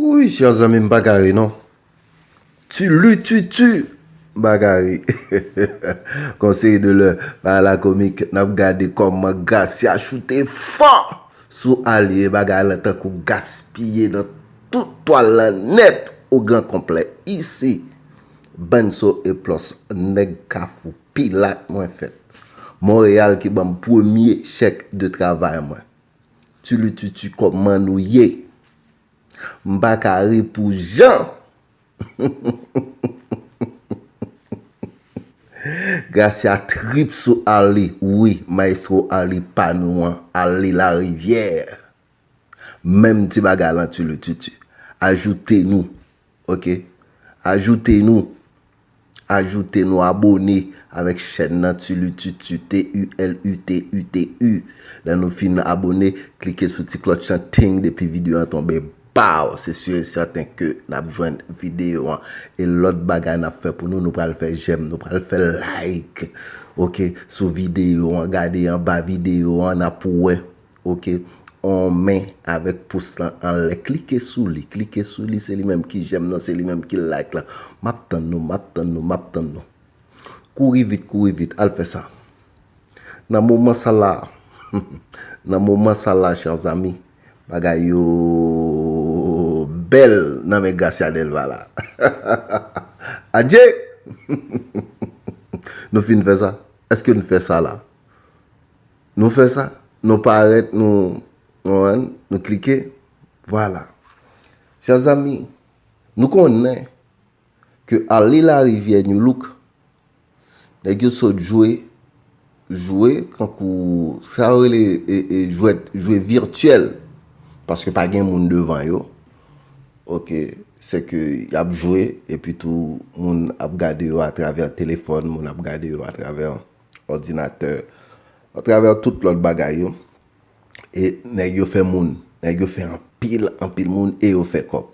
Wouyy chè zanmi m paka ri non Tu lututu m paka ri Conseil de l'heure pa la komik n ap gade kòman Gracia choute fò sou Aly e bagay la tankou gaspiye nan Tout twal lan nèt o gran konplè isi bann so e plòs nèg kafou pilat mwen fèt Monreyal ki banm premye chèk de travay mwen Tulututu kòman nou ye M pa ka ri pou jan Gracia trip sou Arly wi maestro Arly pa nou an Arly larivyè. Menm ti bagay lan tu lu tu tu. Ajoute nou ok ajoute nou ajoute nou abone avèk chèn nan tu lu tu tu TULUTUTU lè nou fin abone klike sou ti klòch lan ting depi video an tonbe baww se sur et certain ke nap jwenn video an e lòt bagay nap fè pou nou nou pral fè jèm nou pral fè like ok sou video an gade anba video an nap wè Ok on men avèk pous lan anlè klike sou li klike sou li se li menm ki jèm nan se li menm ki like lan map tann nou map tann nou map tann nou kouri vit kouri vit al fè sa nan moman sa la nan moman sa la chers amis bagay yo bèl nan men Gracia Delva la hahahaha adje humm humm humm nou fin fè sa èske nou fè sa la. Nou fè sa, nou parèt, nou, konprann, nou klike, vwala. Chè zanmi, nou konnen ke Arly Lariviere New Look, nèg yo sot jwe, jwe kankou sa yo rele e jwèt, jwe virtyèl, paske pa gen moun devan yo, ok, se ke y ap jwe, epi tou moun ap gade yo atravè telefòn, moun ap gade yo atravè. òdinatè, atravè tout lòt bagay yo, e nèg yo fè moun, nèg yo fè anpil, anpil moun, e yo fè kòb.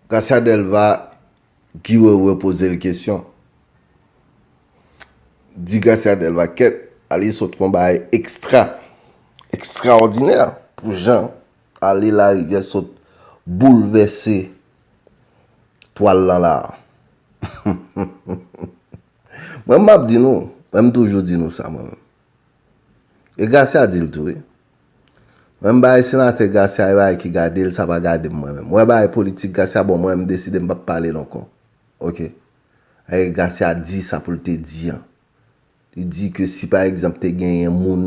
Gracia Delva, Guy Wewe poze l kesyon, di Gracia Delva, kèt, ale sot fon bagay ekstra, ekstraòdinè, pou jan ale larivyè sot boulvèse. Twal lan la. Mwen map di nou, mwen m toujou di nou sa mwen menm. E Gracia di l tou wi. Mwen m bay senatè Gracia yon bagay ki gade l sa pa gade m mwen menm. Mwen bay politik Gracia bon mwen m deside m pap pale l ankò. Ok. Ae Gracia di sa pou l te di an. Li di ke si pa egzanp te genyen moun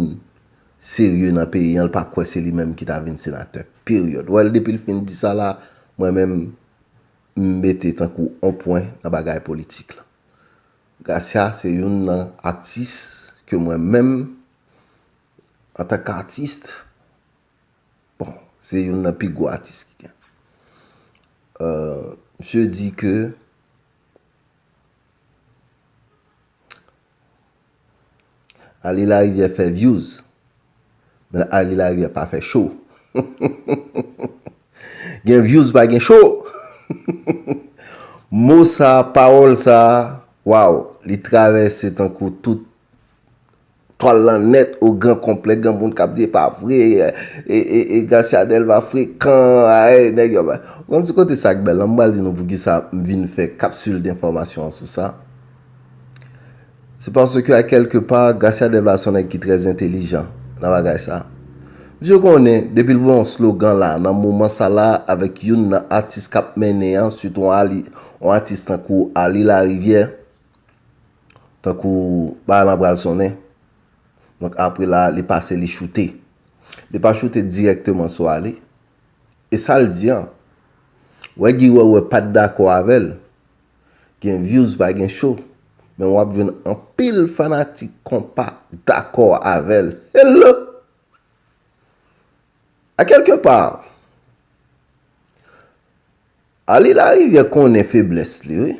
serye nan peyi an, li pa kwè se li menm ki ta vin senatè. Peryòd. Wèl depi li fin di sa la, mwen menm m mete tankou on pwen nan bagay politik la. Gracia se youn nan atis ke mwen menm an tank artist, bon, se youn nan pi gwo atis ki gen. Misye di ke. Arly lariviere fè views men Arly lariviere pa fè show gen views pa gen show mo sa parol sa waw li travèse tankou tout Twal lan nèt o gran konplè gen moun kap di epa vre e Garcia Delva frekan aay nèg yo bay. Ou konn ti kote sak bèl lan m pral di nou poukisa m vin fè kapsul denfòmasyon an sou sa. Se paske a kèlke pa Garcia Delva son nèg ki trè entelijan nan bagay sa. Misye konnen depi l voye yon slogan la nan moman sa la avèk youn nan atis kap mennen an sitou yon atis tankou Arly Larivière. Tankou bagay lan pral sonnen. Donk apre la li pase li choute. Li pa choute dirèkteman sou Ali. E sa l di an. Wè Guy Wewe pat dakò avè l. Gen vyouz pa gen cho. Men wap jwenn anpil fanatik konpa dakò avè l. Hello! A kèlke pa. Ali larivyè konnen feblès li wi.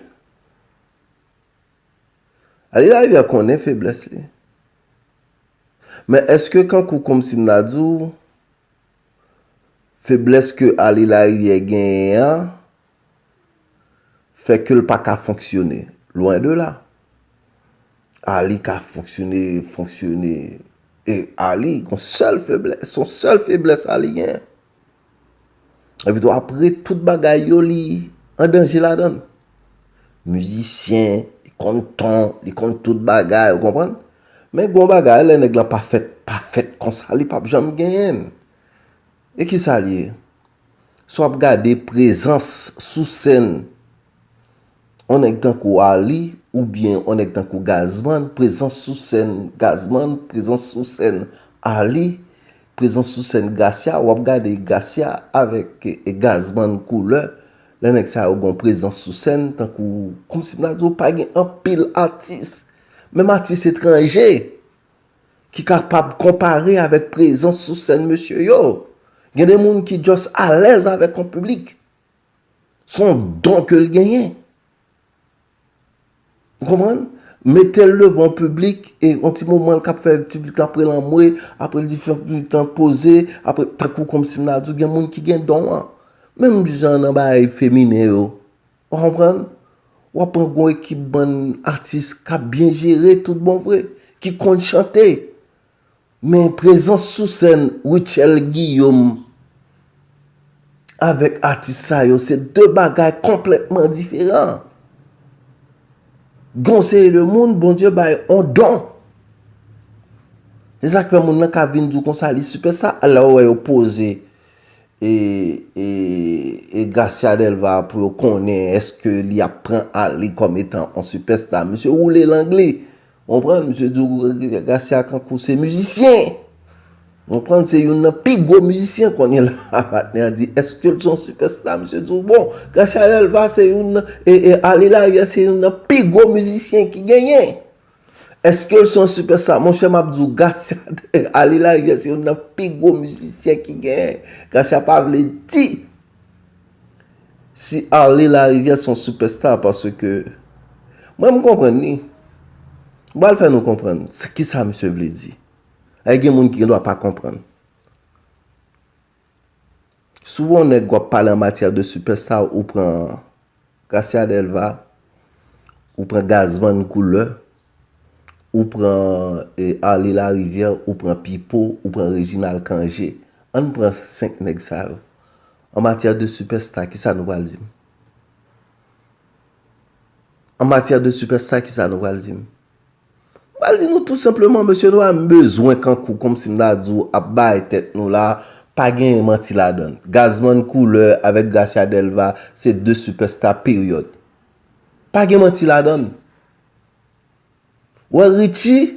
Ali larivyè konnen feblès li. Men eske kankou komsi m ta di w feblès ke Ali larivyè genyen an fè ke l pa ka fonksyone. Lwen de la. Ali ka fonksyone, fonksyone. E Ali gon sèl feblès, son sèl feblès Ali genyen. Epi tou apre tout bagay yo li an danje ladan. Mizisyen, li konn ton, li konn tout bagay, ou konprann? Men gwo bagay lè nèg lan pa fèt, pa fèt konsa li pap janm genyen. E ki sa li ye? Sou ap gade prezans sou sèn. yon nèg tankou Arly oubyen yon nèg tankou Gazzman, prezans sou sèn Gazzman, prezans sou sèn Arly, prezans sou sèn Gracia, wap gade Gracia avèk Gazzman koulè, lè nèg sa yo gen yon prezans sou sèn tankou, kòm si m ta di w pa gen anpil atis, menm atis etranje, ki kapab konpare avèk prezans sou sèn mesye yo. Gen de moun ki just alèz avèk yon piblik. Son don ke l genyen. Ou konprann? Mete l devan piblik e yon ti moman l ka fè piblik la pre l anmwe, apre l di fè yon ti tan poze, apre tankou kòm si m ta di w gen moun ki gen don an. Menm jan nan bagay feminen yo. Ou konprann? W ap pran yon ekip bann atis k ap byen jere tout bon vre, ki konn chante. Men prezans sou sèn Rutshelle Guillaume avèk atis sa yo se 2 bagay konplètman diferan. Gen yon seri de moun Bondye bay yon don. Se sa k fè moun nan ka vin di w konsa li sipè sa a lè w wè yo poze e Gracia Delva pou yo konnen èske li ap pran Arly kòm etan yon sipèsta. Misye woule lang li. Ou konprann? Misye di w Rene Garcia kankou se mizisyen. Ou konprann? Se youn nan pi gwo mizisyen kounye la a. Patnè a di, Èske l se yon sipèsta? Misye di w Bon, Garcia Delva se youn nan, e, e, Arly Larrière se youn nan pi gwo mizisyen ki genyen. Èske l se yon sipèsta? Monchè, m ap di w Garcia, e, Arly Larrière se youn nan pi gwo mizisyen ki genyen. Garcia pa vle di. Si Arly lariviere son super star paske mwen m konprann li m pral fè nou konprann kisa misye vle di e gen moun ki gen dwa pa konprann si w wè yon nèg wap pale an matyè de super star ou pran Gracia Delva ou pran Gaz Van Couleur ou pran Arly lariviere ou pran Pipo ou pran Reginald Cangé an n pran 5 nèg sa yo En matière de superstar kisa nou pral dim? En matière de superstar kisa nou pral dim? M pral di nou tou senpleman mesye nou a m bezwen kankou komsi m ta di w ap bay tèt nou la pa genyen manti ladan l. Gazman Couleur avèk Gracia Delva se 2 superstar period. Pa gen manti ladan l. Wè Richie.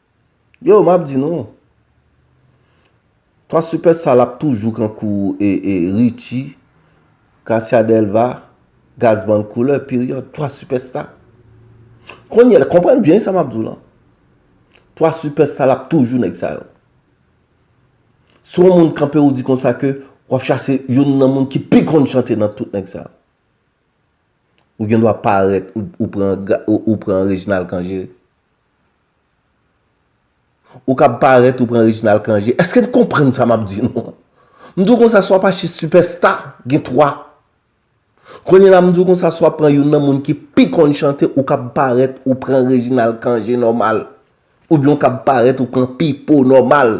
Yo map di nou. Twa sipè sal ap toujou kan kou Richi, Kasia Delva, Gazman Couleur period. Twa sipè sta. Konye la, konprann byen sa map di w lan. Twa sipè sal ap toujou nèg sa yo. Si yon moun kanpe ou di konsa ke wap chache yon nan moun ki pi konn chante nan tout nèg sa yo. Ou gen dwa parèt ou pran Reginald Cangé. Ou kab parèt ou pran Reginald Cangé. Eske n konprann sa m ap di nou an? M di w konsa si w ap achte sipèsta, gen 3. Kounye la m di w konsa si w ap pran youn nan moun ki pi konn chante ou kab parèt ou pran Reginald Cangé nòmal. Oubyen ou kab parèt ou pran Pipo nòmal.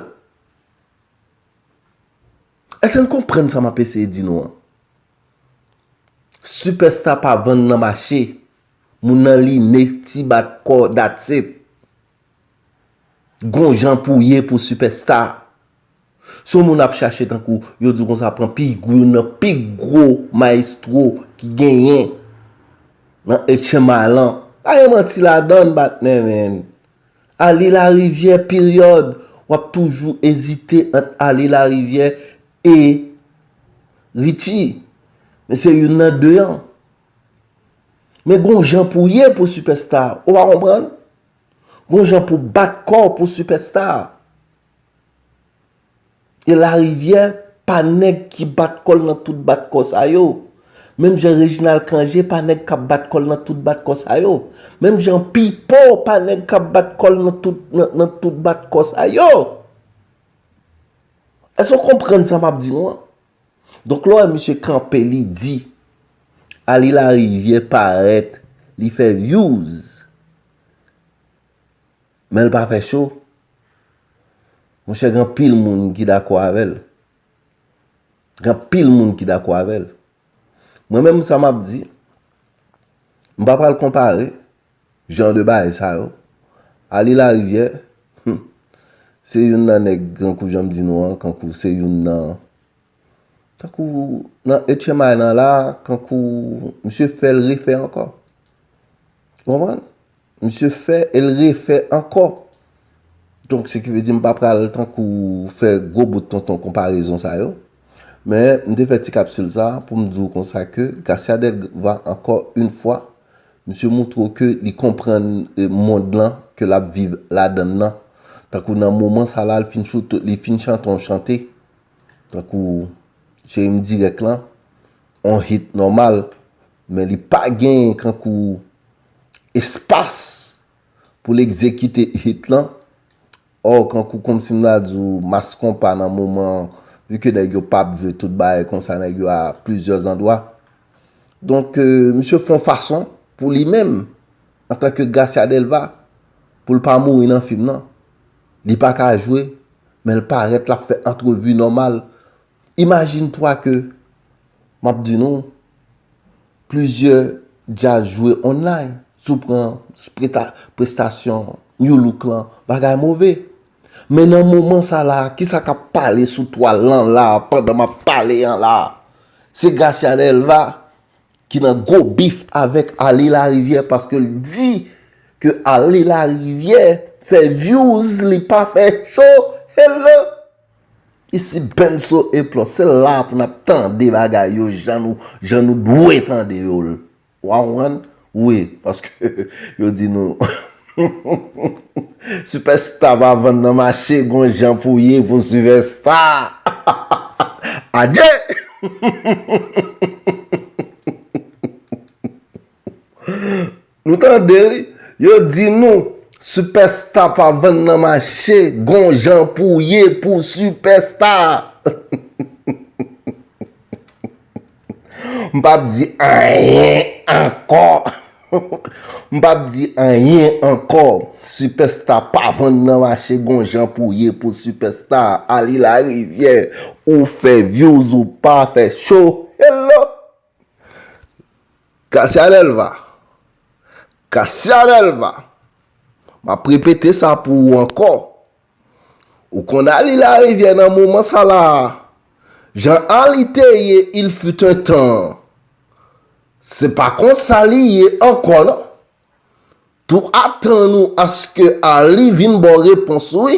Eske n konprann sa m ap eseye di nou an? Sipèsta pa vann nan mache, moun nan line, ti bat kò that's it. Gon jan pou ye pou sipèsta. Si yon moun ap chache tankou yo di konsa pran pi gwo youn nan pi gwo maestro ki genyen nan HMI lan, pa gen manti ladann patnè men. Ale larivyè peryòd w ap toujou ezite ant ale larivyè e Richie men se youn nan 2 an men gon jan pou ye pou sipèsta ou pa konprann gon jan pou bat kò w pou sipèsta E Larivyè pa nèg ki bat kò l nan tout bat kò sa yo. Menm jan Rejinal Kanje pa nèg k ap bat kò l nan tout bat kò sa yo. Menm jan Pipo pa nèg k ap bat kò l nan tout nan tout bat kò sa yo. Èske w konprann sa m ap di nou an? Donk lè w wè misye kanpe li di Aly Larivière parèt li fè vyouz Menl pa fè cho. Monchè gen anpil moun ki dakò avèl. Gen anpil moun ki dakò avèl. Mwen menm sa map di, m pa pral konpare jan de bagay sa yo. Arly Lariviè, hum, se youn nan nèg kankou janm di nou an, kankou se youn nan, tankou nan HMI nan la, kankou misye fèl refè ankò. Ou konprann? Misye fè e l refè ankò. Donk se ki vle di m pa pral tankou fè gwo bout tonton konparezon sa yo. Men m te fè ti kapsil sa pou m di w konsa ke Garcia Delva ankò yn fwa misye moutre w ke li konprann mond lan ke l ap viv ladan l lan. Tankou nan moman sa la li fin chante yon chante tankou Cheri m dirèk lan, yon hit nòmal men li pa gen kankou espas pou l egzekite hit lan, or kankou kòmsi m ta di w Mass Konpa nan moman an, vu ke nèg yo pap jwe tout bagay konsa nèg yo a plizyè zandwa. Donk misye fè yon fason pou li menm antanke Gracia Delva pou l pa mouri nan fim nan. Li pa ka jwe men l parèt l ap fè antrevi nòmal. Imajine twa ke m ap di nou Plizyè djaz jwe online si w pran prestasyon Nu Look lan bagay move. Men nan moman sa la a kisa k ap pale sou twal lan la a pandan m ap pale an la a? Se Gracia Delva ki nan gwo bif avèk Arly Larivière paske l di ke Arly Larivière fè vyouz li pa fè cho. Hello! Isi Benso e Plò, se la pou n ap tande bagay yo jan nou jan nou dwe tande yo l. Wa konprann? Wi, paske yo di nou Sipèsta pa vann nan mache, gon jan pou ye pou sipèsta. Adye! Nou tande wi, yo di nou Superstar pa vann nan mache, gon jan pou ye pou Superstar. M pap di anyen ankò. M pap di anyen ankò. Superstar pa vann nan mache, gon jan pou ye pou Superstar. Ali Lariviere, ou fè views ou pa fè show. Hello! Kasia Delva Kasia Delva M ap repete sa pou ou ankò Ou konn Arly Lariviere nan moman sa la a Jan Arly te ye il fut un temps an Se pa konsa li ye ankò non Tou atann ou aske Arly vin ba w repons wi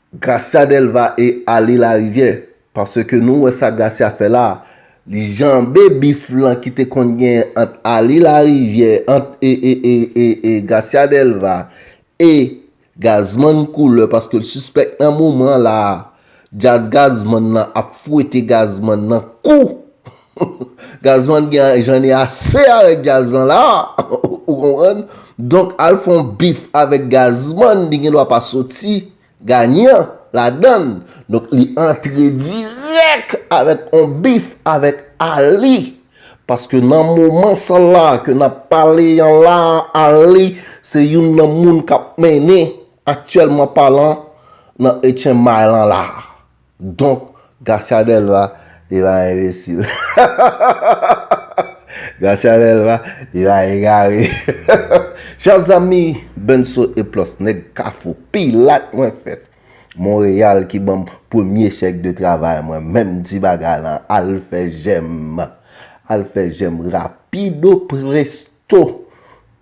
Gracia delva e ale la rivyè paske nou wè sa gracia fè la li janbe bif lan ki te konn genyen ant ale la rivyè ant e gracia delva e gazman koulè paske l sispèk nan moman la jazz gazman lan ap fwete gazman nan kou Gazman gen jan li ase avèk djaz lan la a ou konprann donk al fè yon bif avèk gazman li gen dwa pa soti ganyan ladann donk li antre dirèk avèk yon bif avèk Arly paske nan moman sa la ke nap pale an la a Arly se youn nan moun kap mennen aktyèlman palan nan etchen may lan la a. Donk Garcia Delva li pa enbesil. Garcia Delva li pa egare. Chè zanmi Benso e Plos nèg kafou pilat mwen fèt Monreyal ki banm premye chèk de travay mwen menm di bagay lan al fè jèm al fè jèm rapido presto.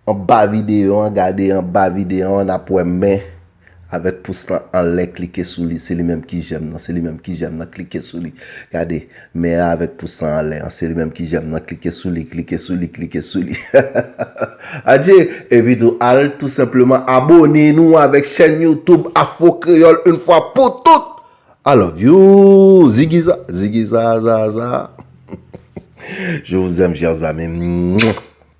Anba videyo an gade anba videyo an nap wè men avèk pous lan anlè klike sou li se li menm ki jèm nan se li menm ki jèm nan klike sou li gade men an avèk pous lan anlè an se li menm ki jèm nan klike sou li klike sou li klike sou li hahahaha adje epi tou al tou senpleman abone nou avèk chèn youtoub afro kreyòl yn fwa pou tout I love you zigiza zigizazaza je vous aime chers amis mwah.